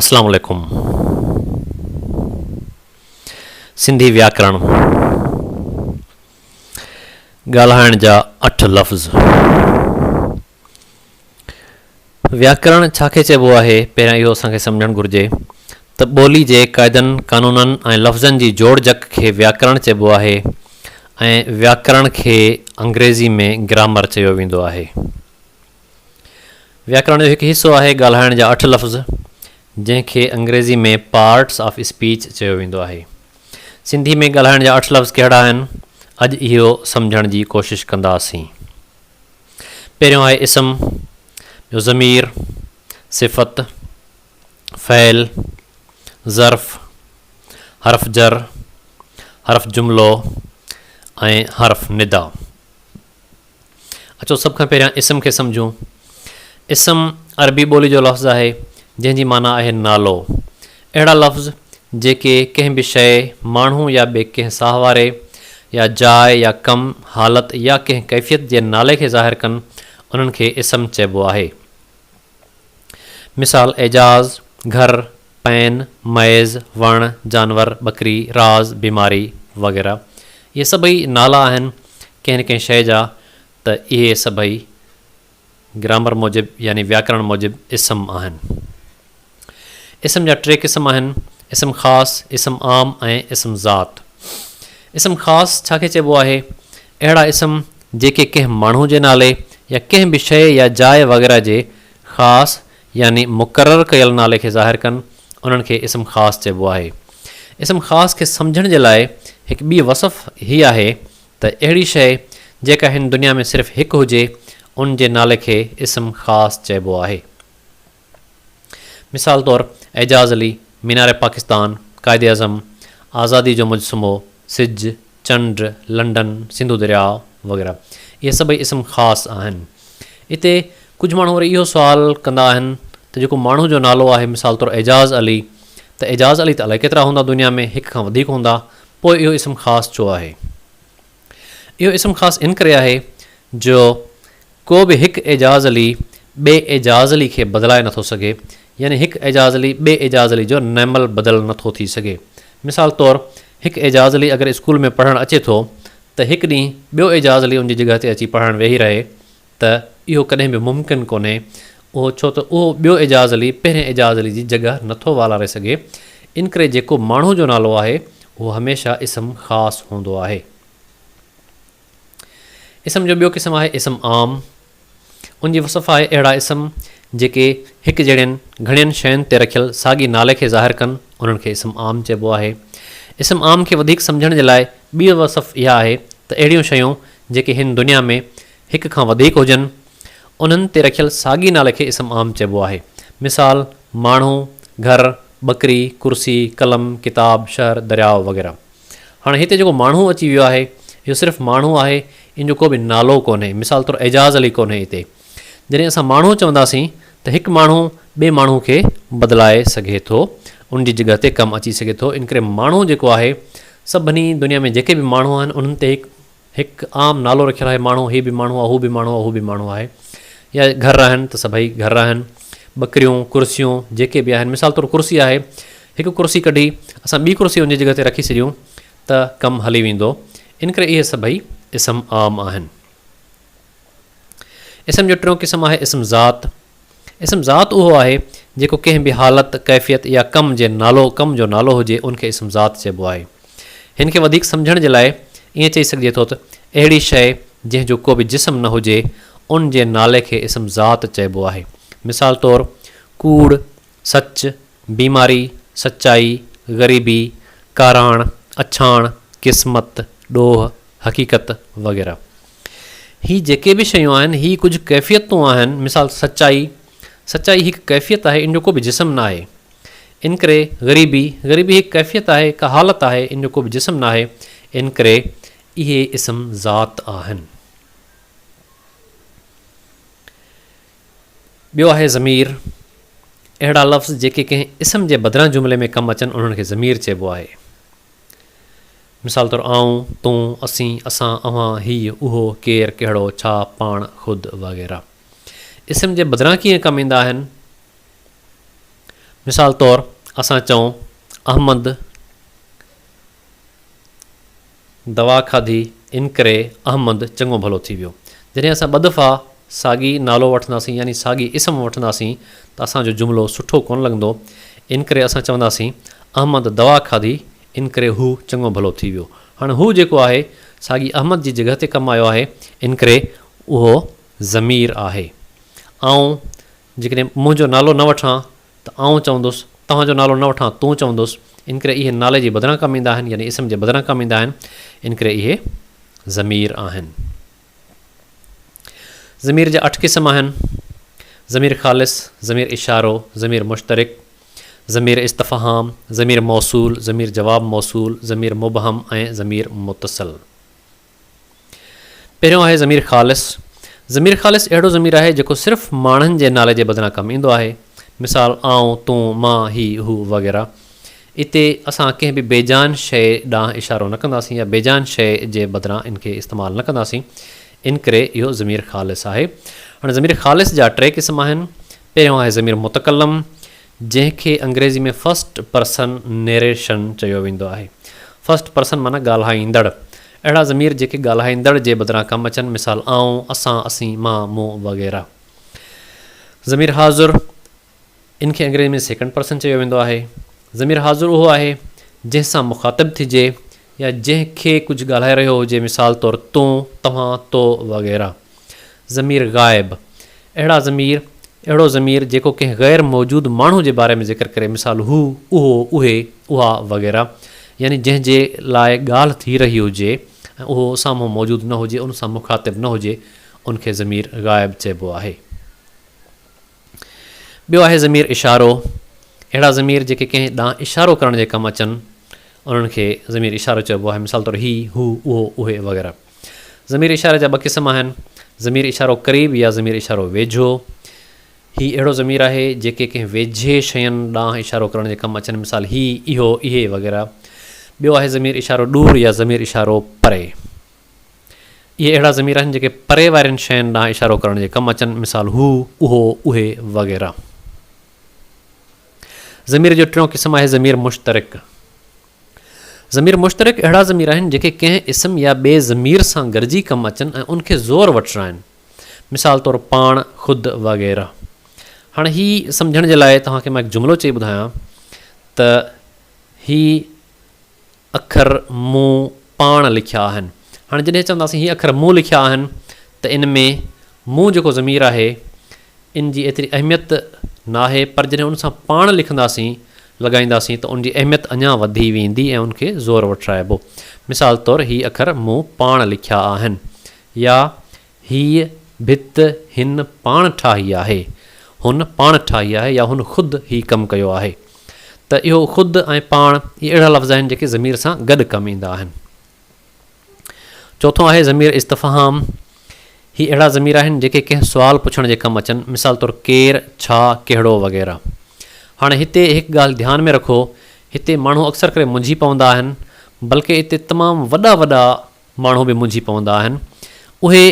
اسلام عليڪم سنڌي وياڪرڻ ڳالهائڻ جا اٺ لفظ وياڪرڻ ڇا کي چئبو آهي پهريان اهو اسان کي سمجهڻ گهرجي ته ٻولي جي قاعدن قانونن ۽ لفظن جي جوڙجڪ کي وياڪرڻ چئبو آهي ۽ وياڪرڻ کي انگريزي ۾ گرامر چيو ويندو آهي وياڪرڻ جو هڪ حصو آهي ڳالهائڻ جا اٺ لفظ، جنهن کي انگريزي ۾ پارٽس آف اسپيچ چيو ويندو آهي. سنڌي ۾ ڳالهائڻ جا اٺ لفظ ڪهڙا آهن، اڄ اهو سمجهڻ جي ڪوشش ڪنداسين. پهريون آهي اسم، ٻيو ضمير، صفت، فعل، ظرف، حرف جر، حرف جملو ۽ حرف ندا. اچو سڀ کان پهريان اسم کي سمجهون. اسم عربي ٻولي جو لفظ آهي، جنهن جي معنيٰ آهي نالو. اهڙا لفظ جيڪي ڪنهن به شيء، ماڻهو يا ٻي ڪنهن ساهه واري يا جاء يا ڪم، حالت يا ڪنهن ڪيفيت جي نالي کي ظاهر ڪن، انهن کي اسم چئبو آهي. مثال، اعجاز، گهر، پين، مئيز، وڻ، جانور، ٻڪري، راز، بيماري وغيره اهي سڀئي نالا آهن ڪنهن نه ڪنهن شيء جا ته اهي سڀئي گرامر موجب يعني وياڪرڻ موجب اسم آهن. اسم جا ٽي قسم آهن، اسم خاص، اسم عام ۽ اسم ذات. اسم خاص ڇا کي چئبو آهي؟ اهڙا اسم جيڪي ڪنهن ماڻهو جي نالي يا ڪنهن به شيء يا جاء وغيره جي خاص يعني مقرر ڪيل نالي کي ظاهر ڪن، انهن کي اسم خاص چئبو آهي. اسم خاص کي سمجهڻ جي لاء هڪ ٻي وصف هي آهي ته اهڙي شيء جيڪا هن دنيا ۾ صرف هڪ هجي، ان جي نالي کي اسم خاص چئبو آهي. مثال طور اعجاز علي، مينار پاڪستان، قائد اعظم، آزادي جو مجسمو، سج، چنڊ، لنڊن، سنڌو درياء وغيره اهي سڀئي اسم خاص آهن. اتي ڪجهه ماڻهو وري اهو سوال ڪندا آهن ته جيڪو ماڻهو جو نالو آهي مثال طور اعجاز علي ته اعجاز علي ته الائي ڪيترا هوندا دنيا ۾ هڪ کان وڌيڪ هوندا پوء اهو اسم خاص ڇو آهي؟ اهو اسم خاص ان ڪري آهي جو ڪو به هڪ اعجاز علي ٻئي اعجاز علي کي بدلائي نه ٿو سگهي، يعني هڪ اعجاز علي ٻئي اعجاز علي جو نعمل بدل نه ٿو ٿي سگهي. مثال طور هڪ اعجاز علي اگر اسڪول ۾ پڙهڻ اچي ٿو ته هڪ ڏينهن ٻيو اعجاز علي ان جي جڳهه تي اچي پڙهڻ ويهي رهي ته اهو ڪڏهن به ممڪن ڪونهي اهو ڇو ته اهو ٻيو اعجاز علي پهرين اعجاز علي جي جڳهه نه ٿو والاري سگهي انڪري جيڪو ماڻهو جو نالو آهي اهو هميشه اسم خاص هوندو آهي. اسم جو ٻيو قسم آهي اسم عام. ان جي وصف آهي اهڙا اسم جيڪي هڪ جهڙين گهڻين شين تي رکيل ساڳي نالي کي ظاهر ڪن انهن کي اسم عام چئبو آهي. اسم عام کي وڌيڪ سمجهڻ جي لاء ٻيء وصف اها آهي ته اهڙيون شيون جيڪي هن دنيا ۾ هڪ کان وڌيڪ هجن انهن تي رکيل ساڳي نالي کي اسم عام چئبو آهي. مثال، ماڻهو، گهر، ٻڪري، ڪرسي، قلم، ڪتاب، شهر، درياء وغيره. هاڻي هتي جيڪو ماڻهو اچي ويو آهي، اهو صرف ماڻهو آهي، ان جو ڪو به نالو ڪونهي، مثال طور اعجاز علي ڪونهي هتي. جڏهن اسان ماڻهو چونداسين ته هڪ ماڻهو ٻئي ماڻهو کي بدلائي سگهي ٿو، ان جي جڳهه تي ڪم اچي سگهي ٿو، ان ڪري ماڻهو جيڪو آهي، سڀني دنيا ۾ جيڪي به ماڻهو آهن، انهن تي هڪ. هڪ عام نالو رکيل آهي ماڻهو هي به ماڻهو آهي هو به ماڻهو آهي اهو به ماڻهو آهي يا گهر آهن ته سڀئي گهر آهن ٻڪريون ڪرسيون جيڪي به آهن مثال طور ڪرسي آهي هڪ ڪرسي ڪڍي اسان ٻي ڪرسي ان جي جڳهه تي رکي ڇڏيون ته ڪم هلي ويندو ان ڪري اهي سڀئي اسم عام آهن. اسم جو ٽيون قسم آهي اسم ذات اسم ذات اهو آهي جيڪو ڪنهن به حالت، ڪيفيت يا ڪم جي نالو، ڪم جو نالو هجي ان کي اسم ذات چئبو آهي. هن کي وڌيڪ سمجهڻ جي لاء ائين چئي سگهجي ٿو ته اهڙي شيء جنهن جو ڪو به جسم نه هجي ان جي نالي کي اسم ذات چئبو آهي. مثال طور، ڪوڙ، سچ، بيماري، سچائي، غريبي، ڪاراڻ، اڇاڻ، قسمت، ڏوهه، حقيقت وغيره. هي جيڪي به شيون آهن، هي ڪجهه ڪيفيتون آهن، مثال سچائي، سچائي هڪ ڪيفيت آهي، ان جو ڪو به جسم ناهي. انڪري، غريبي، غريبي هڪ ڪيفيت آهي، هڪ حالت آهي، ان جو ڪو به جسم ناهي. انڪري، اهي اسم ذات آهن. ٻيو آهي ضمير، اهڙا لفظ جيڪي ڪنهن اسم جي بدران جملي ۾ ڪم اچن، انهن کي ضمير چئبو آهي. مثال طور آئون، تون، اسين، اسان، اوهان، هيء، اهو، ڪير، ڪهڙو، ڇا، پاڻ، خود وغيره اسم جي بدران ڪيئن ڪم ايندا آهن؟ مثال طور اسان چئون، احمد دوا کاڌي انڪري احمد چڱو ڀلو ٿي ويو. جڏهن اسان ٻه دفعا ساڳي نالو وٺنداسين يعني ساڳي اسم وٺنداسين ته اسان جو جملو سٺو ڪونه لڳندو انڪري اسان چونداسين، احمد دوا کاڌي ان ڪري هو چڱو ڀلو ٿي ويو. هاڻ هو جيڪو آهي، ساڳي احمد جي جڳهه تي ڪم آيو آهي، ان ڪري اهو ضمير آهي. آئون جيڪڏهن منهنجو نالو نه وٺان ته آئون چوندس، توهان جو نالو نه وٺان تون چوندس، ان ڪري اهي نالي جي بدران ڪم ايندا آهن، يعني اسم جي بدران ڪم ايندا آهن، ان ڪري اهي ضمير آهن. ضمير جا اٺ قسم آهن، ضمير خالص، ضمير اشارو، ضمير مشترڪ، ضمير استفهام، ضمير موصول، ضمير جواب موصول، ضمير مبهم ۽ ضمير متصل. پهريون آهي ضمير خالص. ضمير خالص اهڙو ضمير آهي جيڪو صرف ماڻهن جي نالي جي بدران ڪم ايندو آهي. مثال، آئون، تون، مان، هي، هو وغيره. اتي اسان ڪنهن به بيجان شيء ڏانهن اشارو نه ڪنداسين يا بيجان شيء جي بدران ان کي استعمال نه ڪنداسين، ان ڪري اهو ضمير خالص آهي. هاڻي ضمير خالص جا ٽي قسم آهن. پهريون آهي ضمير متڪلم، جنهن کي انگريزي ۾ فرسٽ پرسن نيريشن چيو ويندو آهي. فرسٽ پرسن معنيٰ ڳالهائيندڙ. اهڙا ضمير جيڪي ڳالهائيندڙ جي بدران ڪم اچن، مثال، آئون، اسان، اسين، مان، مون وغيره. ضمير حاضر، ان کي انگريزيء ۾ سيڪنڊ پرسن چيو ويندو آهي. ضمير حاضر اهو آهي، جنهن سان مخاطب ٿجي يا جنهن کي ڪجهه ڳالهائي رهيو هجي، مثال طور تون، توهان، تو وغيره. ضمير غائب، اهڙا ضمير، اهڙو ضمير جيڪو ڪنهن غير موجود ماڻهو جي باري ۾ ذڪر ڪري، مثال هو، اهو، اهي، اها وغيره، يعني جنهن جي لاء ڳالهه ٿي رهي هجي ۽ اهو سامهون موجود نه هجي، ان سان مخاطب نه هجي، ان کي ضمير غائب چئبو آهي. ٻيو آهي ضمير اشارو، اهڙا ضمير جيڪي ڪنهن ڏانهن اشارو ڪرڻ جي ڪم اچن، انهن کي ضمير اشارو چئبو آهي، مثال طور هي، هو، اهو، اهي وغيره. ضمير اشاري جا ٻه قسم آهن، ضمير اشارو قريب يا ضمير اشارو ويجهو. هي اهڙو ضمير آهي، جيڪي ڪنهن ويجهي شين ڏانهن اشارو ڪرڻ جي ڪم اچن، مثال هي، اهو، اهي وغيره. ٻيو آهي ضمير اشارو ڏور يا ضمير اشارو پري. اهي اهڙا ضمير آهن جيڪي پري وارين شين ڏانهن اشارو ڪرڻ جي ڪم اچن، مثال، هو، اهو، اهي وغيره. ضمير جو ٽيون قسم آهي ضمير مشترڪ. ضمير مشترڪ اهڙا ضمير آهن جيڪي ڪنهن اسم يا ٻئي ضمير سان گڏجي ڪم اچن ۽ ان کي زور وٺرائن، مثال طور پاڻ، خود وغيره. هاڻي هي سمجهڻ جي لاء توهان کي مان هڪ جملو چئي ٻڌايان ته هي، اکر مون پاڻ لکيا آهن. هاڻي جڏهن چونداسين هي اکر مون لکيا آهن ته ان ۾ مون جيڪو ضمير آهي ان جي ايتري اهميت ناهي پر جڏهن ان سان پاڻ لکنداسين، لڳائينداسين ته ان جي اهميت اڃا وڌي ويندي ۽ ان کي زور وٺرائبو. مثال طور هي اکر مون پاڻ لکيا آهن يا هيء ڀت هن پاڻ ٺاهي آهي. هن پاڻ ٺاهي آهي يا هن خود هي ڪم ڪيو آهي. ته اهو خود ۽ پاڻ اهي اهڙا لفظ آهن جيڪي ضمير سان گڏ ڪم ايندا آهن. چوٿون آهي ضمير استفهام. هي اهڙا ضمير آهن جيڪي ڪنهن سوال پڇڻ جي ڪم اچن مثال طور ڪير، ڇا، ڪهڙو وغيره. هاڻي هتي هڪ ڳالهه ڌيان ۾ رکو هتي ماڻهو اڪثر ڪري منجهي پوندا آهن بلڪه اتي تمام وڏا وڏا ماڻهو به منجهي پوندا آهن. اهي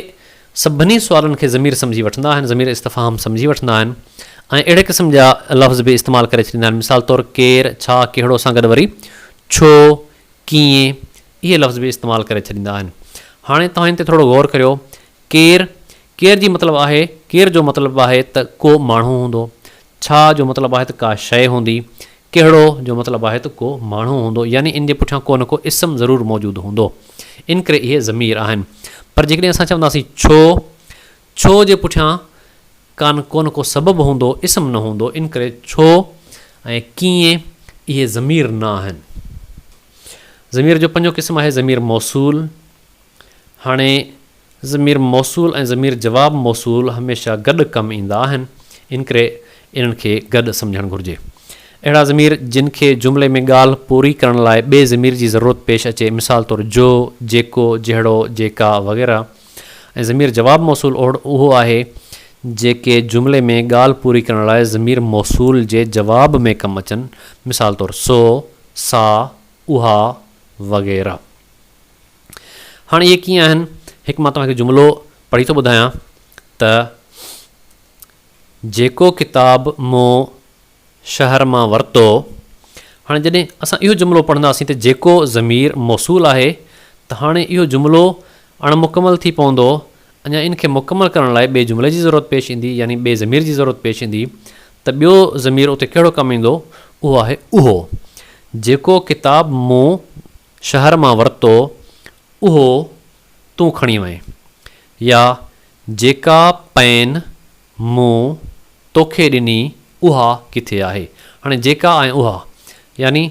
سڀني سوالن کي ضمير سمجهي وٺندا آهن، ضمير استفهام سمجهي وٺندا آهن ۽ اهڙي قسم جا لفظ به استعمال ڪري ڇڏيندا آهن. مثال طور ڪير، ڇا، ڪهڙو سان گڏ وري ڇو، ڪيئن اهي لفظ به استعمال ڪري ڇڏيندا آهن. هاڻي توهان ان تي ٿورو غور ڪريو. ڪير، ڪير جي مطلب آهي، ڪير جو مطلب آهي ته ڪو ماڻهو هوندو. ڇا جو مطلب آهي ته ڪا شيء هوندي. ڪهڙو جو مطلب آهي ته ڪو ماڻهو هوندو يعني ان جي پٺيان ڪو نه ڪو اسم ضرور موجود هوندو. ان ڪري اهي ضمير آهن. پر جيڪڏهن اسان چونداسين ڇو؟ ڇو جي پٺيان ڪان ڪو نه ڪو سبب هوندو، اسم نه هوندو. ان ڪري ڇو ۽ ڪيئن اهي ضمير نه آهن. ضمير جو پنجون قسم آهي ضمير موصول. هاڻي ضمير موصول ۽ ضمير جواب موصول هميشه گڏ ڪم ايندا آهن، انڪري انهن کي گڏ سمجهڻ گهرجي. اهڙا ضمير جن کي جملي ۾ ڳالهه پوري ڪرڻ لاء ٻئي ضمير جي ضرورت پيش اچي مثال طور جو، جيڪو، جهڙو، جيڪا وغيره ۽ ضمير جواب موصول اهو آهي جيڪي جملي ۾ ڳالهه پوري ڪرڻ لاء ضمير موصول جي جواب ۾ ڪم اچن مثال طور سو، سا، اها وغيره. هاڻ اهي ڪيئن آهن؟ هڪ مان توهان کي جملو پڙهي ٿو ٻڌايان ته جيڪو ڪتاب مون شهر مان ورتو. هاڻي جڏهن اسان اهو جملو پڙهنداسين ته جيڪو ضمير موصول آهي ته هاڻي اهو جملو اڻ مڪمل ٿي پوندو اڃا ان کي مڪمل ڪرڻ لاء ٻئي جملي جي ضرورت پيش ايندي يعني ٻئي ضمير جي ضرورت پيش ايندي ته ٻيو ضمير اتي ڪهڙو ڪم ايندو اهو آهي اهو جيڪو ڪتاب مون شهر مان ورتو اهو تون کڻي وئين يا جيڪا پئن مون توکي ڏني اها ڪٿي آهي؟ هاڻي جيڪا ۽ اها يعني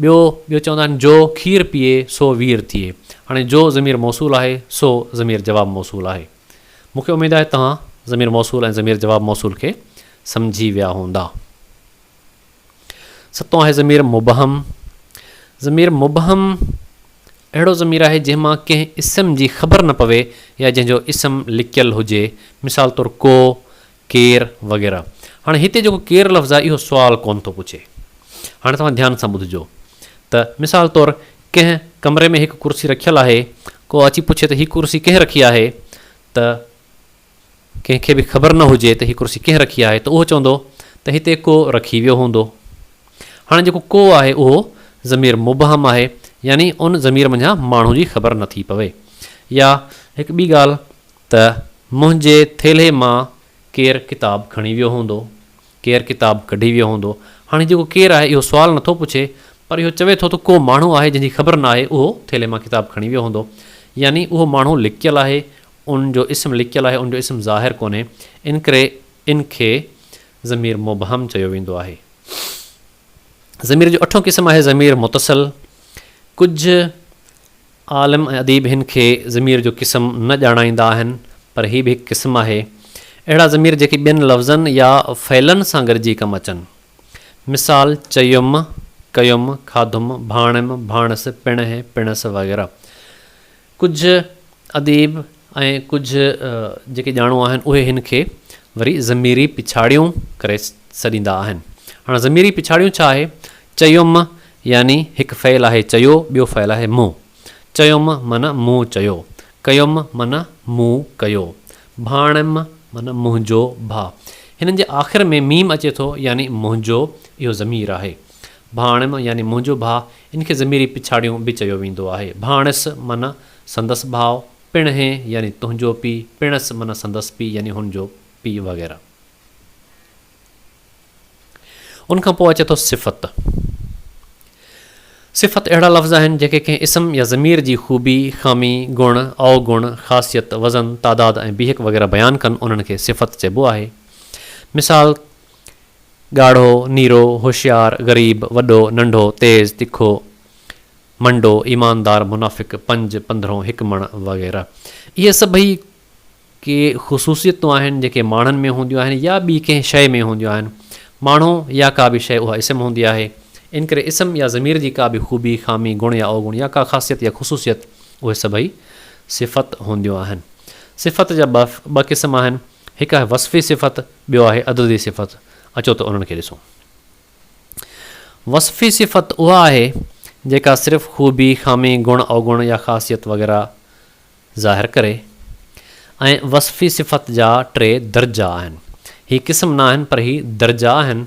ٻيو ٻيو چوندا آهن جو کير پيئي سو وير ٿئي هاڻي جو ضمير موصول آهي سو ضمير جواب موصول آهي مون کي اميد آهي توهان ضمير موصول ۽ ضمير جواب موصول کي سمجهي ويا هوندا. ستون آهي ضمير مبهم. ضمير مبهم اهڙو ضمير آهي جنهن مان ڪنهن اسم جي خبر نه پوي يا جنهن جو اسم لڪيل هجي مثال طور ڪو، ڪير وغيره. هاڻي هتي جيڪو ڪير لفظ آهي اهو سوال ڪونه ٿو پڇي. هاڻي توهان ڌيان سان ٻڌجو ته مثال طور ڪنهن ڪمري ۾ هڪ ڪرسي رکيل آهي ڪو اچي پڇي ته هي ڪرسي ڪنهن رکي آهي ته ڪنهن کي به خبر نه هجي ته هي ڪرسي ڪنهن رکي آهي ته اهو چوندو ته هتي ڪو رکي ويو هوندو. هاڻي جيڪو ڪو آهي اهو ضمير مبهم آهي يعني ان ضمير منجهان ماڻهو جي خبر نه ٿي پوي. يا هڪ ٻي ڳالهه ته منهنجي ٿيلهي مان ڪير ڪتاب کڻي ويو هوندو، ڪير ڪتاب ڪڍي ويو هوندو. هاڻي هي جيڪو ڪير آهي اهو سوال نه ٿو پڇي پر اهو چوي ٿو ته ڪو ماڻهو آهي جنهن جي خبر نه آهي اهو ٿيلهي مان ڪتاب کڻي ويو هوندو يعني اهو ماڻهو لڪيل آهي ان جو اسم لڪيل آهي ان جو اسم ظاهر ڪونهي ان ڪري ان کي ضمير مبهم چيو ويندو آهي. ضمير جو اٺون قسم آهي ضمير متصل. ڪجهه عالم ۽ اديب هن کي ضمير جو قسم نه ڄاڻائيندا آهن پر هي به هڪ قسم آهي. اهڙا ضمير جيڪي ٻين لفظن يا فعلن سان گڏجي ڪم اچن. مثال، چيم، ڪيم، کاڌم، ڀاڻيم، ڀاڻس، پڻهه، پڻس وغيره. ڪجهه اديب ۽ ڪجهه جيڪي ڄاڻو آهن اهي هن کي وري ضميري پڇاڙيون ڪري سڏيندا آهن. هاڻ ضميري پڇاڙيون ڇا آهي؟ چيم يعني هڪ فعل آهي چيو ٻيو فعل آهي مون. چيم معنيٰ مون چيو. ڪيم معنيٰ مون ڪيو. ڀاڻيم معنيٰ منهنجو ڀاء. هنن جي آخر ۾ ميم اچي ٿو يعني منهنجو اهو ضمير آهي. ڀاڻيم يعني منهنجو ڀاء ان کي ضميري پڇاڙيون به چيو ويندو آهي. ڀاڻس معنيٰ سندس ڀاء، پڻ هين يعني تنهنجو پيء، پڻس معنيٰ سندس پيء يعني هن جو پيء وغيره. ان کان پوء اچي ٿو صفت. صفت اهڙا لفظ آهن جيڪي ڪنهن اسم يا ضمير جي خوبي، خامي، گڻ، اوگڻ، خاصيت، وزن، تعداد ۽ بيهڪ وغيره بيان ڪن انهن کي صفت چئبو آهي. مثال، ڳاڙهو، نيرو، هوشيار، غريب، وڏو، ننڍو، تيز، تکو، منڊو، ايماندار، منافق، پنج، پندرهون، هڪ مڻ وغيره. اهي سڀئي ڪي خصوصيتون آهن جيڪي ماڻهن ۾ هونديون آهن يا ٻي ڪنهن شيء ۾ هونديون آهن. ماڻهو يا ڪا به شيء اها اسم هوندي آهي. ان ڪري اسم يا ضمير جي ڪا به خوبي، خامي، گڻ يا اوگڻ يا ڪا خاصيت يا خصوصيت اهي سڀئي صفت هونديون آهن. صفت جا ٻه قسم آهن. هڪ آهي وصفي صفت، ٻيو آهي عددي صفت، اچو ته انهن کي ڏسون. وصفي صفت اها آهي جيڪا صرف خوبي، خامي، گڻ، اوگڻ يا خاصيت وغيره ظاهر ڪري ۽ وصفي صفت جا ٽي درجا آهن. هي قسم نه آهن پر هي درجا آهن.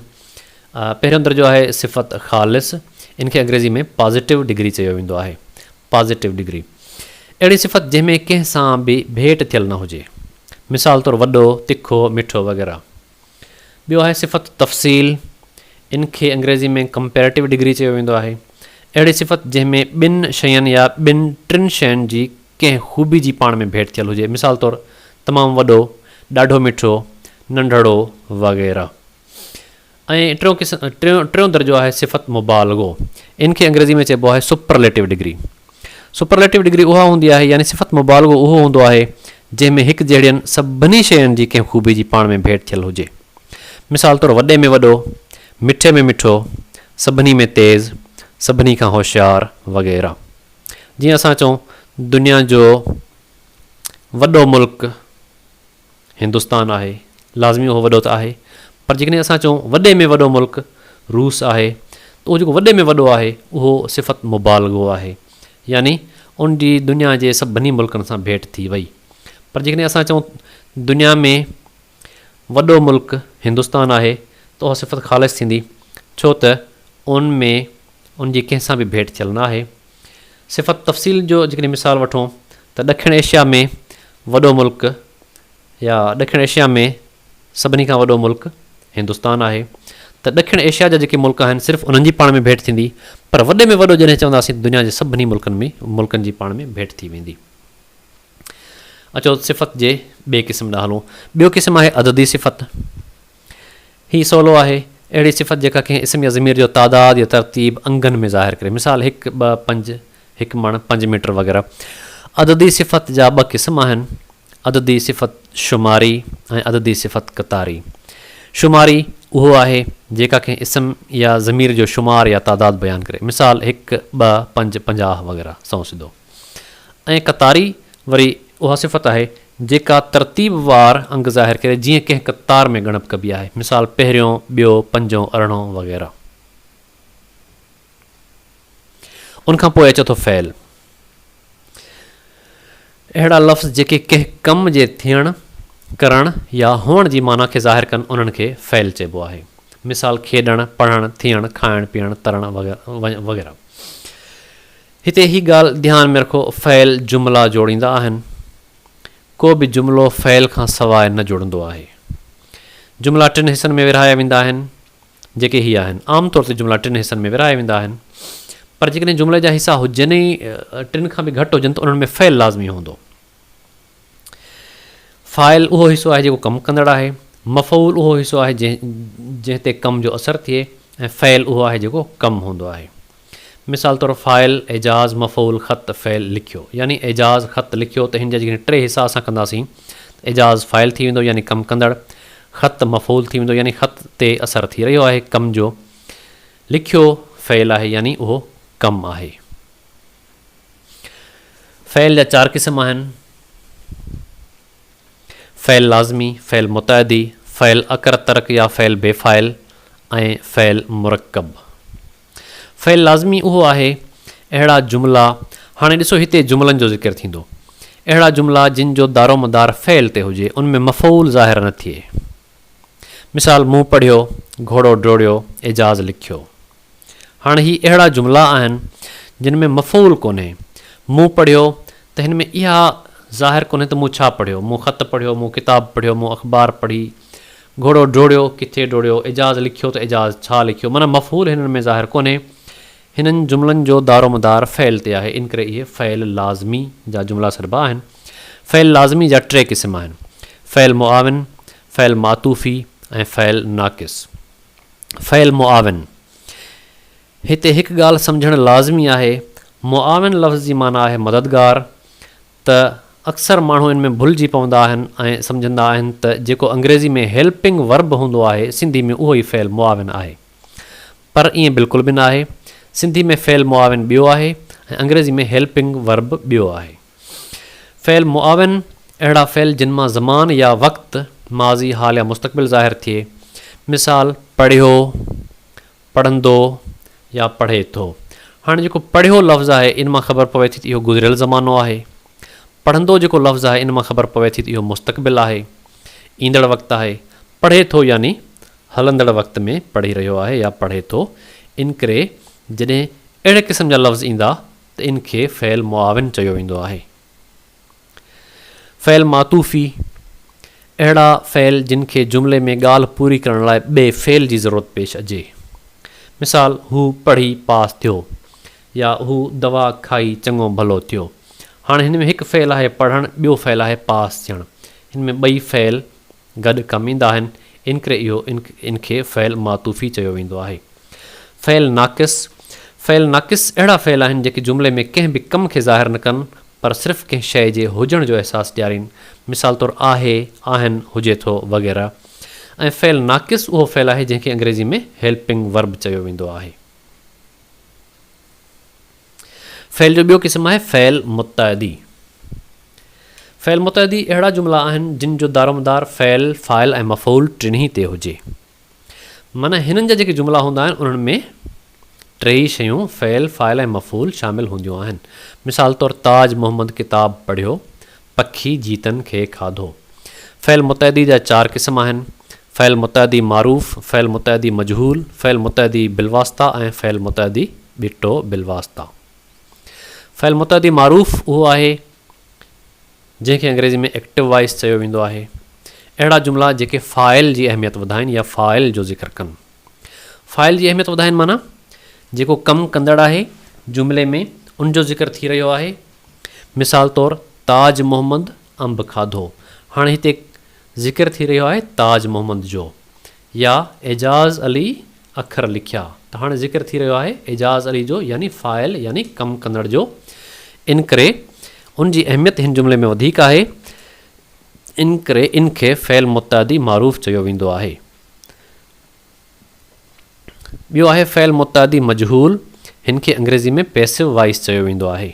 پهريون درجو آهي صفت خالص، ان کي انگريزي ۾ پازيٽو ڊگري چيو ويندو آهي، Positive Degree، اهڙي صفت جنهن ۾ ڪنهن سان به ڀيٽ ٿيل نه هجي. مثال طور وڏو، تکو، مٺو وغيره. ٻيو آهي صفت تفصيل، ان کي انگريزي ۾ Comparative Degree چيو ويندو آهي. اهڙي صفت جنهن ۾ ٻن شين يا ٻن ٽن شين جي ڪنهن خوبي جي پاڻ ۾ ڀيٽ ٿيل هجي مثال طور تمام وڏو، ڏاڍو مٺو، ننڍڙو وغيره. ۽ ٽيون قسم ٽيون ٽيون درجو آهي صفت مبالغو ان کي انگريزي ۾ چئبو آهي سپرليٽو ڊگري سپرليٽو ڊگري اها هوندي آهي يعني صفت مبالغو اهو هوندو آهي جنهن ۾ هڪ جهڙين سڀني شين جي ڪنهن خوبي جي پاڻ ۾ ڀيٽ ٿيل هجي مثال طور وڏي ۾ وڏو مٺي ۾ مٺو سڀني ۾ تيز سڀني کان هوشيار وغيره جيئن اسان چئون دنيا جو وڏو ملڪ هندستان آهي، لازمي اهو وڏو ته آهي، پر جيڪڏهن اسان چئون وڏي ۾ وڏو ملڪ روس آهي ته اهو جيڪو وڏي ۾ وڏو آهي اهو صفت مبالغو آهي، يعني ان جي دنيا جي سڀني ملڪن سان ڀيٽ ٿي وئي. پر جيڪڏهن اسان چئون دنيا ۾ وڏو ملڪ هندستان آهي ته اها صفت خالص ٿيندي، ڇو ته ان ۾ ان جي ڪنهن سان به ڀيٽ ٿيل نه آهي. صفت تفصيل جو جيڪڏهن مثال وٺون ته ڏکڻ ايشيا ۾ وڏو ملڪ يا ڏکڻ ايشيا ۾ سڀني کان وڏو ملڪ هندستان آهي ته ڏکڻ ايشيا جا جيڪي ملڪ آهن صرف انهن جي پاڻ ۾ ڀيٽ ٿيندي پر وڏي ۾ وڏو جڏهن چونداسين ته دنيا جي سڀني ملڪن ۾ ملڪن جي پاڻ ۾ ڀيٽ ٿي ويندي. اچو صفت جي ٻئي قسم ڏانهن هلون. ٻيو قسم آهي عددي صفت. هي سولو آهي، اهڙي صفت جيڪا ڪنهن اسم يا ضمير جو تعداد يا ترتيب انگن ۾ ظاهر ڪري، مثال، هڪ، ٻه، پنج، هڪ مڻ، پنج ميٽر وغيره. عددي صفت جا ٻه قسم آهن، عددي صفت شماري ۽ عددي صفت قطاري. شماري اهو آهي، جيڪا ڪنهن اسم يا ضمير جو شمار يا تعداد بيان ڪري، مثال، هڪ، ٻه، پنج، پنجاهه وغيره. سنئون سڌو. ۽ قطاري وري اها صفت آهي جيڪا ترتيب وار انگ ظاهر ڪري جيئن ڪنهن قطار ۾ ڳڻپ ڪبي آهي مثال پهريون، ٻيو، پنجون، ارڙهون وغيره. ان کان پوء اچي ٿو فعل. اهڙا لفظ جيڪي ڪنهن ڪم جي ٿيڻ، ڪرڻ يا هئڻ جي معنيٰ کي ظاهر ڪن انهن کي فعل چئبو آهي مثال کيڏڻ، پڙهڻ، ٿيڻ، کائڻ، پيئڻ، ترڻ وغيره. هتي هي ڳالهه ڌيان ۾ رکو فعل جملا جوڙيندا آهن. ڪو به جملو فعل کان سواء نه جڙندو آهي. جملا ٽن حصن ۾ ورهايا ويندا آهن جيڪي هي آهن. عام طور تي جملا ٽن حصن ۾ ورهايا ويندا آهن پر جيڪڏهن جملي جا حصا هجن ۽ ٽن کان به گهٽ هجن ته انهن ۾ فعل لازمي هوندو. فاعل اهو حصو آهي جيڪو ڪم ڪندڙ آهي. مفعول اهو حصو آهي جنهن تي ڪم جو اثر ٿئي ۽ فعل اهو آهي جيڪو ڪم هوندو آهي. مثال طور فاعل، اعجاز، مفعول، خط، فعل، لکيو. يعني اعجاز خط لکيو ته هن جا جيڪڏهن ٽي حصا اسان ڪنداسين ته اعجاز فاعل ٿي ويندو يعني ڪم ڪندڙ، خط مفعول ٿي ويندو يعني خط تي اثر ٿي رهيو آهي ڪم جو، لکيو فعل آهي يعني اهو ڪم آهي. فعل جا چار قسم آهن، فعل لازمي، فعل متعدي، فعل اڪر ترڪ يا فعل بي فاعل ۽ فعل مرڪب. فعل لازمي اهو آهي، اهڙا جملا، هاڻي ڏسو هتي جملن جو ذڪر ٿيندو، اهڙا جملا جن جو دارومدار فعل تي هجي، ان ۾ مفعول ظاهر نه ٿئي. مثال، مون پڙهيو، گهوڙو ڊوڙيو، اعجاز لکيو. هاڻ هي اهڙا جملا آهن جن ۾ مفعول ڪونهي. مون پڙهيو ته هن ۾ اها ظاهر ڪونهي ته مون ڇا پڙهيو، مون خط پڙهيو، مون ڪتاب پڙهيو، مون اخبار پڙهي، گهوڙو ڊوڙيو، ڪٿي ڊوڙيو، اعجاز لکيو ته اعجاز ڇا لکيو، معنيٰ مفعول هنن ۾ ظاهر ڪونهي. هنن جملن جو دارومدار فعل تي آهي، ان ڪري اهي فعل لازمي جا جملا سڏبا آهن. فعل لازمي جا ٽي قسم آهن، فعل معاون، فعل معطوفي ۽ فعل ناقص. فعل معاون، هتي هڪ ڳالهه سمجهڻ لازمي آهي، معاون لفظ جي معنيٰ آهي مددگار، ته اڪثر ماڻهو ان ۾ ڀلجي پوندا آهن ۽ سمجهندا آهن ته جيڪو انگريزي ۾ Helping Verb هوندو آهي، سنڌي ۾ اهو ئي فعل معاون آهي. پر ائين بلڪل به ناهي، سنڌي ۾ فعل معاون ٻيو آهي ۽ انگريزي ۾ Helping Verb ٻيو آهي. فعل معاون، اهڙا فعل جن مان زمان يا وقت، ماضي، حال يا مستقبل ظاهر ٿئي. مثال، پڙهيو، پڙهندو يا پڙهي ٿو. هاڻي جيڪو پڙهيو لفظ آهي ان مان خبر پوي ٿي ته اهو گذريل زمانو آهي. پڙهندو جيڪو لفظ آهي ان مان خبر پوي ٿي ته اهو مستقبل آهي، ايندڙ وقت آهي. پڙهي ٿو يعني هلندڙ وقت ۾ پڙهي رهيو آهي يا پڙهي ٿو. انڪري جڏهن اهڙي قسم جا لفظ ايندا ته ان کي فعل معاون چيو ويندو آهي. فعل معطوفي، اهڙا فعل جن کي جملي ۾ ڳالهه پوري ڪرڻ لاء ٻئي فعل جي ضرورت پيش اچي. مثال، هو پڙهي پاس ٿيو يا هو دوا کائي چڱو ڀلو ٿيو. هاڻي هن ۾ هڪ فعل آهي پڙهڻ ٻيو فعل آهي پاس ٿيڻ. هن ۾ ٻئي فعل گڏ ڪم ايندا آهن، انڪري اهو ان کي فعل معطوفي چيو ويندو آهي. فعل ناقص، فعل ناقص اهڙا فعل آهن جيڪي جملي ۾ ڪنهن به ڪم کي ظاهر نه ڪن پر صرف ڪنهن شيء جي هجڻ جو احساس ڏيارين، مثال طور آهي، آهن، هجي ٿو وغيره ۽ فعل ناقص اهو فعل آهي جنهن کي انگريزي ۾ Helping Verb چيو ويندو آهي. فعل جو ٻيو قسم آهي فعل متعدي. فعل متعدي اهڙا جملا آهن جن جو دارومدار فعل، فاعل ۽ مفعول ٽنهي تي هجي. معنيٰ هنن جا جيڪي جملا هوندا آهن انهن ۾ ٽيئي شيون فعل، فاعل ۽ مفعول شامل هونديون آهن. مثال طور تاج محمد ڪتاب پڙهيو، پکي جيتن کي کاڌو. فعل متعدي جا چار قسم آهن، فعل متعدي معروف، فعل متعدي مجهول، فعل متعدي بالواسطه ۽ فعل متعدي ٻٽو بالواسطه. فعل متعدي معروف اهو آهي جنهن کي انگريزي ۾ Active Voice چيو ويندو آهي. اهڙا جملا جيڪي فاعل جي اهميت وڌائين يا فاعل جو ذڪر ڪن. فاعل جي اهميت وڌائين معنيٰ جيڪو ڪم ڪندڙ آهي جملي ۾ ان جو ذڪر ٿي رهيو آهي مثال طور تاج محمد انب کاڌو، هاڻي هتي ذڪر ٿي رهيو آهي تاج محمد جو، يا اعجاز علي اکر لکيا ته هاڻي ذڪر ٿي رهيو آهي اعجاز علي جو يعني فاعل يعني ڪم ڪندڙ جو انڪري ان جي اهميت هن جملي ۾ وڌيڪ آهي انڪري ان کي فعل متعدي معروف چيو ويندو آهي. ٻيو آهي فعل متعدي مجهول، هن کي انگريزي ۾ Passive Voice چيو ويندو آهي.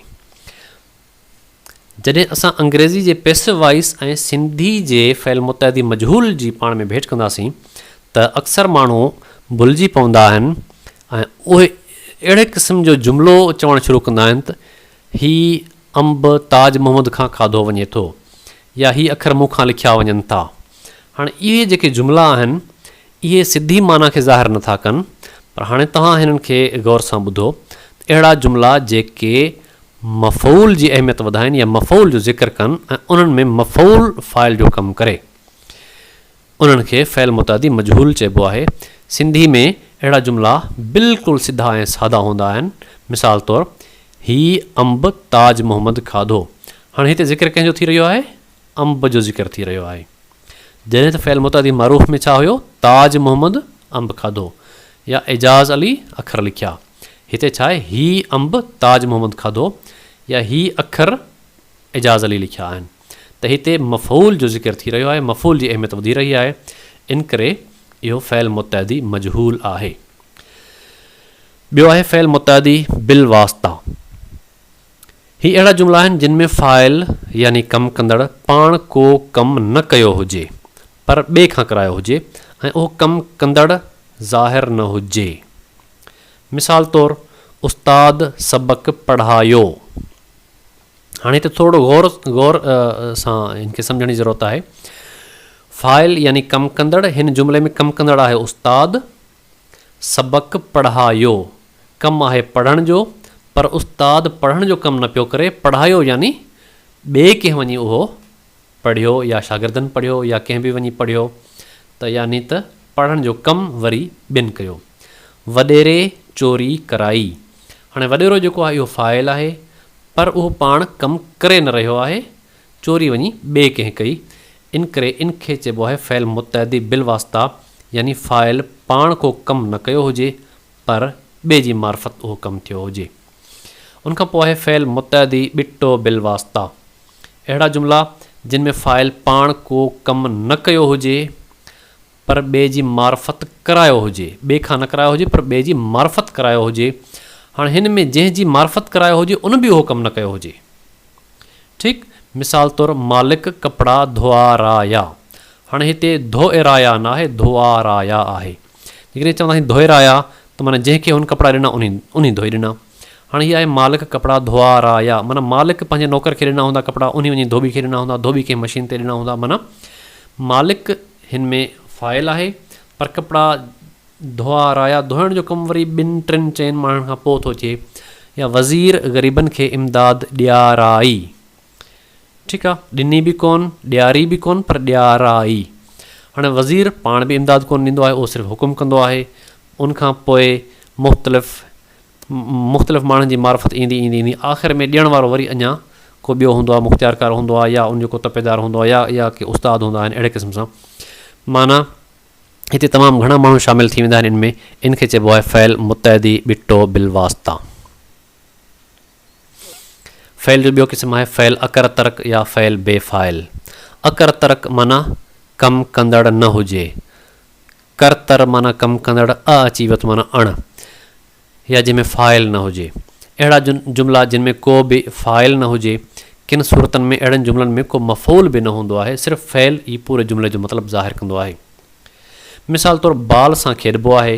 جڏهن اسان انگريزي جي Passive Voice ۽ سنڌي جي فعل متعدي مجهول جي پاڻ ۾ ڀيٽ ڪنداسين ته اڪثر ماڻهو ڀلجي پوندا آهن ۽ اهي اهڙي قسم جو جملو چوڻ شروع ڪندا آهن ته هي انب تاج محمد کان کاڌو وڃي ٿو يا هي اکر مون کان لکيا وڃن ٿا. هاڻ اهي جيڪي جملا آهن، اهي سڌي معنيٰ کي ظاهر نه ٿا ڪن، پر هاڻي توهان هنن کي غور سان ٻڌو ته اهڙا جملا جيڪي مفعول جي اهميت وڌائين يا مفعول جو ذڪر ڪن ۽ انهن ۾ مفعول فاعل جو ڪم ڪري، انهن کي فعل متعدي مجهول چئبو آهي. سنڌي ۾ اهڙا جملا بلڪل سڌا ۽ سادا هوندا آهن. مثال طور، هي انب تاج محمد کاڌو. هاڻي هتي ذڪر ڪنهن جو ٿي رهيو آهي؟ انب جو ذڪر ٿي رهيو آهي. جڏهن ته فعل متعدي معروف ۾ ڇا هيو؟ تاج محمد انب کاڌو يا اعجاز علي اکر لکيا. هتي ڇا آهي؟ هي انب تاج محمد کاڌو يا هي اکر اعجاز علي لکيا آهن. ته هتي مفعول جو ذڪر ٿي رهيو آهي، مفعول جي اهميت وڌي رهي آهي، انڪري اهو فعل متعدي مجهول آهي. ٻيو آهي فعل متعدي بالواسطه. هي اهڙا جملا آهن جن ۾ فاعل يعني ڪم ڪندڙ پاڻ ڪو ڪم نه ڪيو هجي پر ٻئي کان ڪرايو هجي ۽ اهو ڪم ڪندڙ ظاهر نه هجي. مثال طور، استاد سبق پڙهايو. هاڻي هتي ٿورڙو غور غور سان ان کي سمجهڻ جي ضرورت آهي فاعل يعني ڪم ڪندڙ هن جملي ۾ ڪم ڪندڙ آهي استاد سبق پڙهايو ڪم آهي پڙهڻ جو پر استاد پڙهڻ جو ڪم نه پيو ڪري پڙهايو يعني ٻئي ڪنهن وڃي اهو پڙهيو يا شاگردن پڙهيو يا ڪنهن به وڃي پڙهيو ته يعني ته پڙهڻ جو ڪم وري ٻين ڪيو. وڏيري چوري ڪرائي. هاڻي وڏيرو جيڪو آهي اهو فاعل آهي پر اهو پاڻ ڪم ڪري نه رهيو آهي، چوري وڃي ٻئي ڪنهن ڪئي، ان ڪري ان کي چئبو آهي فعل متعدي بالواسطه يعني فاعل پاڻ ڪو ڪم نه ڪيو هجي پر ٻئي جي معرفت اهو ڪم ٿيو هجي. ان کان پوء آهي فعل متعدي ٻٽو بالواسطه. اهڙا جملا جن ۾ فاعل پاڻ ڪو ڪم نه ڪيو هجي پر ٻئي جي معرفت ڪرايو هجي، ٻئي کان نه ڪرايو هجي پر ٻئي جي معرفت ڪرايو هجي، هاڻ هن ۾ جنهن جي معرفت ڪرايو هجي ان به اهو ڪم نه ڪيو هجي. ٺيڪ مثال طور مالڪ ڪپڙا ڌوئارايا، هاڻ هتي ڌوئرايا ناهي ڌوئارايا آهي، جيڪڏهن چونداسين ڌوئرايا ته معنيٰ جنهن کي هن ڪپڙا ڏنا انهي ڌوئي ڏنا، هاڻي هي آهي مالڪ ڪپڙا ڌوئا را يا معنيٰ مالڪ پنهنجي نوڪر کي ڏنا هوندا ڪپڙا انهي وڃي ڌوٻي کي ڏنا هوندا ڌوٻي ڪنهن مشين تي ڏنا هوندا معنيٰ مالڪ هن ۾ فاعل آهي پر ڪپڙا ڌوئا رايا ڌوئڻ جو ڪم وري ٻن ٽن چئن ماڻهن کان پوء ٿو اچي يا وزير غريبن کي امداد ڏيارائي ٺيڪ آ ڏني به ڪون ڏياري به ڪون پر ڏيارائي هاڻي وزير پاڻ به امداد ڪون ڏيندو آهي اهو صرف حڪم ڪندو آهي ان کان پوء مختلف مختلف ماڻهن جي معرفت ايندي ايندي ايندي آخر ۾ ڏيڻ وارو وري اڃا ڪو ٻيو هوندو آهي مختيارڪار هوندو آهي يا ان جو ڪو تپيدار هوندو آهي يا يا ڪي استاد هوندا آهن اهڙي قسم سان معنيٰ هتي تمام گهڻا ماڻهو شامل ٿي ويندا آهن ان ۾ ان کي چئبو آهي فعل متعدي ٻٽو بالواسطه فعل جو ٻيو قسم آهي فعل اڪر ترڪ يا فعل بي فاعل اڪر ترڪ معنيٰ ڪم ڪندڙ نه هجي ڪر تر معنيٰ ڪم ڪندڙ اء اچي ويت معنيٰ اڻ يا جنهن ۾ فاعل نه هجي. اهڙا جملا جن ۾ ڪو به فاعل نه هجي. ڪن صورتن ۾ اهڙن جملن ۾ ڪو مفعول به نه هوندو آهي صرف فعل ئي پوري جملي جو مطلب ظاهر ڪندو آهي. مثال طور بال سان کيڏبو آهي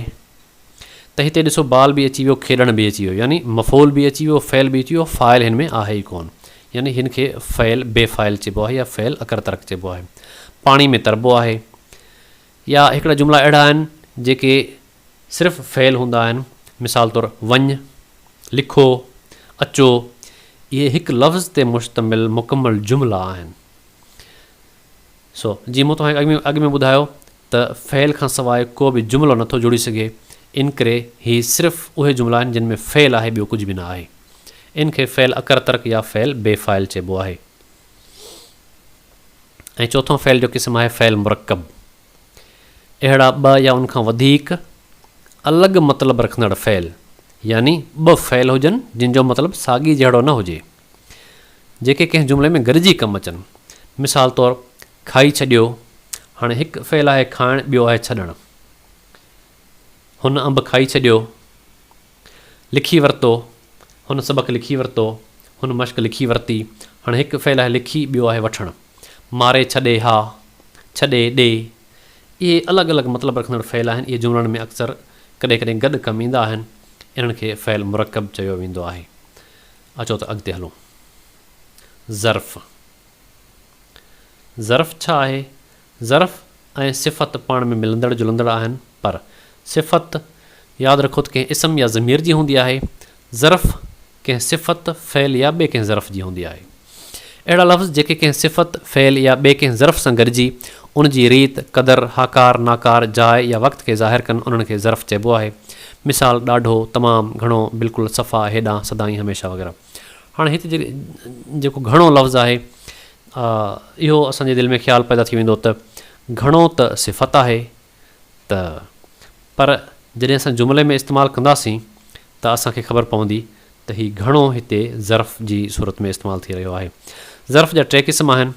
ته هتي ڏسو بال به اچي ويو کيڏڻ به اچي ويو يعني مفعول به اچي ويو فعل به اچي ويو فاعل هن ۾ آهي ئي ڪون يعني هن کي فعل بي فاعل چئبو آهي يا فعل اڪر ترڪ چئبو آهي. پاڻي ۾ تربو آهي. يا هڪڙا جملا اهڙا آهن جيڪي صرف فعل هوندا آهن، مثال طور وڃ، لکو، اچو، اهي هڪ لفظ تي مشتمل مڪمل جملا آهن. سو جيئن مون توهان کي اڳ ۾ ٻڌايو ته فعل کان سواء ڪو به جملو نه ٿو جڙي سگهي، انڪري هي صرف اهي جملا آهن جن ۾ فعل آهي ٻيو ڪجهه به نه آهي. ان کي فعل اڪر ترڪ يا فعل بي فاعل چئبو آهي. ۽ چوٿون فعل جو قسم آهي فعل مرڪب. اهڙا ٻه يا ان کان وڌيڪ الڳ مطلب رکندڙ فعل يعني ٻه فعل هجن جن جو مطلب ساڳي جهڙو نه هجي جيڪي ڪنهن جملي ۾ گڏجي ڪم اچن مثال طور کائي ڇڏيو هاڻي هڪ فعل آهي کائڻ ٻيو آهي ڇڏڻ هن انب کائي ڇڏيو. لکي ورتو، هن سبق لکي ورتو، هن مشق لکي ورتي، هاڻي هڪ فعل آهي لکي، ٻيو آهي وٺڻ. ماري ڇڏي ها، ڇڏي ڏي، اهي الڳ الڳ مطلب رکندڙ فعل آهن، اهي جملن ۾ اڪثر ڪڏهن ڪڏهن گڏ ڪم ايندا آهن، انهن کي فعل مرڪب چيو ويندو آهي. اچو ته اڳتي هلون. ظرف، ظرف ڇا آهي؟ ظرف ۽ صفت پاڻ ۾ ملندڙ جلندڙ آهن، پر، صفت، ياد رکو ته ڪنهن اسم يا ضمير جي هوندي آهي، ظرف، ڪنهن صفت، فعل يا ٻئي ڪنهن ظرف جي هوندي آهي. اهڙا لفظ جيڪي ڪنهن صفت، فعل يا ٻئي ڪنهن ظرف سان گڏجي ان جي ريت، قدر، هاڪار، ناڪار، جاء يا وقت کي ظاهر ڪن انهن کي ظرف چئبو آهي. مثال، ڏاڍو، تمام، گهڻو، بلڪل، صفا، هيڏانهن، سدائين، هميشه وغيره. هاڻي هت جي جيڪو گهڻو لفظ آهي اهو اسان جي دل ۾ خيال پيدا ٿي ويندو ته گهڻو ته صفت آهي ته پر جڏهن اسان جملي ۾ استعمال ڪنداسين ته اسان کي خبر پوندي ته هي گهڻو هتي ظرف جي صورت ۾ استعمال ٿي رهيو آهي. ظرف جا ٽي قسم آهن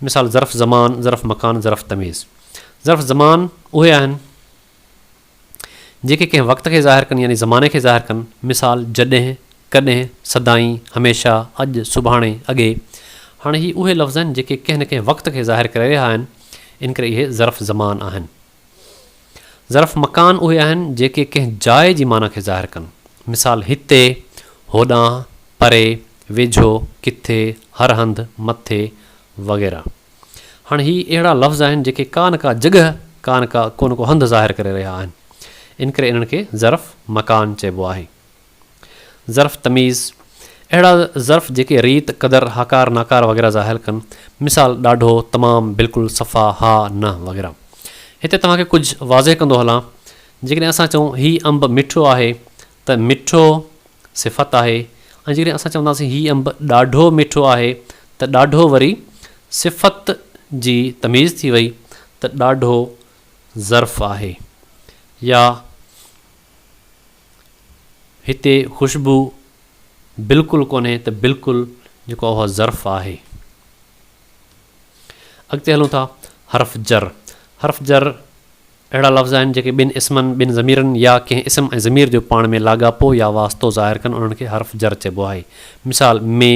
مثال ظرف زمان، ظرف مڪان، ظرف تميز. ظرف زمان اهي آهن. جيڪي ڪنهن وقت کي ظاهر ڪن يعني زماني کي ظاهر ڪن، مثال، جڏهن، ڪڏهن، سدائين، هميشه، اڄ، سڀاڻي، اڳي. هاڻي هي اهي لفظ آهن جيڪي ڪنهن نه ڪنهن وقت کي ظاهر ڪري رهيا آهن، ان ڪري اهي ظرف زمان آهن. ظرف مڪان اهي آهن جيڪي ڪنهن جاء جي معنيٰ کي ظاهر ڪن، مثال، هتي، هوڏانهن، پري، ويجهو، ڪٿي، هر هنڌ، مٿي، وغيره. هاڻي هي اهڙا لفظ آهن جيڪي ڪا نه ڪا جڳهه ڪا نه ڪا ڪو نه ڪو هنڌ ظاهر ڪري رهيا آهن ان ڪري انهن کي ظرف مڪان چئبو آهي. ظرف تميز، اهڙا ظرف جيڪي ريت، قدر، هاڪار، ناڪار وغيره ظاهر ڪن مثال، ڏاڍو، تمام، بلڪل، صفا، ها، نه وغيره. هتي توهان کي ڪجهه واضح ڪندو هلان جيڪڏهن اسان چئون هي انب مٺو آهي ته مٺو صفت آهي ۽ جيڪڏهن اسان چونداسين هي انب ڏاڍو مٺو آهي ته ڏاڍو وري صفت جي تميز ٿي وئي ته ڏاڍو ظرف آهي يا هتي خوشبو بلڪل ڪونهي ته بلڪل جيڪو اهو ظرف آهي. اڳتي هلون ٿا حرف جر حرف جر اهڙا لفظ آهن جيڪي ٻن اسمن، ٻن ضميرن يا ڪنهن اسم ۽ ضمير جو پاڻ ۾ لاڳاپو يا واسطو ظاهر ڪن انهن کي حرف جر چئبو آهي. مثال، ۾،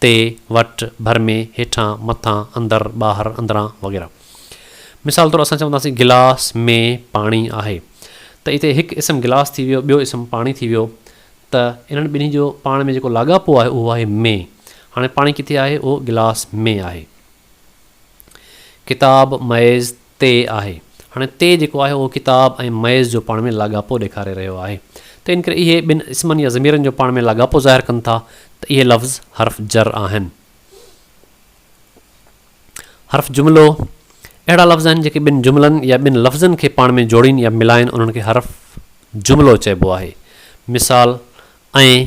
تي، وٽ، ڀر ۾، هيٺان، مٿان، اندر، ٻاهر، اندران وغيره. مثال طور اسان چونداسين گلاس ۾ پاڻي آهي ته اتي هڪ اسم گلاس ٿي ويو ٻيو اسم پاڻي ٿي ويو ته انهن ٻنهي جو پاڻ ۾ جيڪو لاڳاپو آهي اهو آهي ۾ هاڻي پاڻي ڪٿي آهي اهو گلاس ۾ آهي. ڪتاب ميز تي آهي. هاڻي تي جيڪو آهي اهو ڪتاب ۽ ميز جو پاڻ ۾ لاڳاپو ڏيکاري رهيو آهي. ته ان ڪري اهي ٻن اسمن يا ضميرن جو پاڻ ۾ لاڳاپو ظاهر ڪن ٿا ته اهي لفظ حرف جر آهن. حرف جملو، اهڙا لفظ آهن جيڪي ٻن جملن يا ٻن لفظن کي پاڻ ۾ جوڙين يا ملائين انهن کي حرف جملو چئبو آهي. مثال، ۽،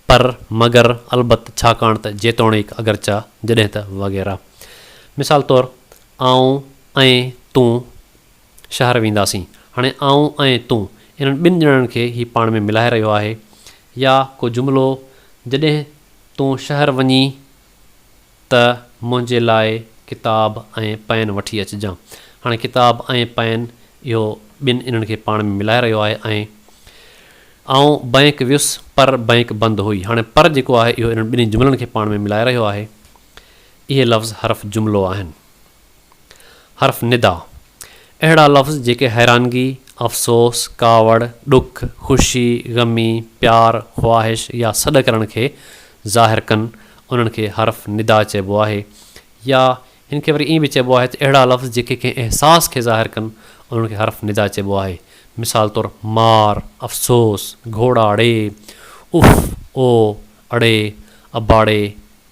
پر، مگر، البت، ڇاڪاڻ ته، جيتوڻيڪ، اگرچه، جڏهن ته، وغيره. مثال طور، آئون ۽ تون شهر وينداسين. هاڻي آئون ۽ تون انهن ٻن ڄڻن کي هي پاڻ ۾ ملائي رهيو آهي يا ڪو جملو جڏهن تون شهر وڃين ته منهنجي لاء ڪتاب ۽ پين وٺي اچجان. هاڻي ڪتاب ۽ پين اهو ٻن انهن کي پاڻ ۾ ملائي رهيو آهي ۽. آئون بئنڪ ويس پر بئنڪ بند هئي. هاڻي پر جيڪو آهي اهو انهن ٻنهي جملن کي پاڻ ۾ ملائي رهيو آهي. اهي لفظ حرف جملو آهن. حرف ندا، اهڙا لفظ جيڪي حيرانگي، افسوس، ڪاوڙ، ڏک، خوشي، غمي، پيار، خواهش يا سڏ ڪرڻ کي ظاهر ڪن، انهن کي حرف ندا چئبو آهي يا هن کي وري ائين به چئبو آهي ته اهڙا لفظ جيڪي ڪنهن احساس کي ظاهر ڪن، انهن کي حرف ندا چئبو آهي. مثال طور، مار، افسوس، گهوڙا ڙي، اف، او، اڙي، اباڙي،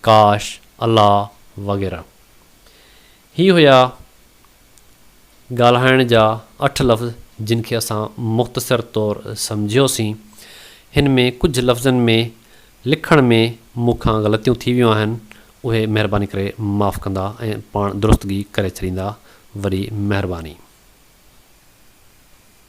ڪاش، الله وغيره. هي هيا ڳالهائڻ جا اٺ لفظ جن کي اسان مختصر طور سمجهيوسين. هن ۾ ڪجهه لفظن ۾ لکڻ ۾ مون کان غلطيون ٿي ويون آهن اهي مهرباني ڪري معاف ڪندا ۽ پاڻ درستگي ڪري ڇڏيندا. وڏي مهرباني.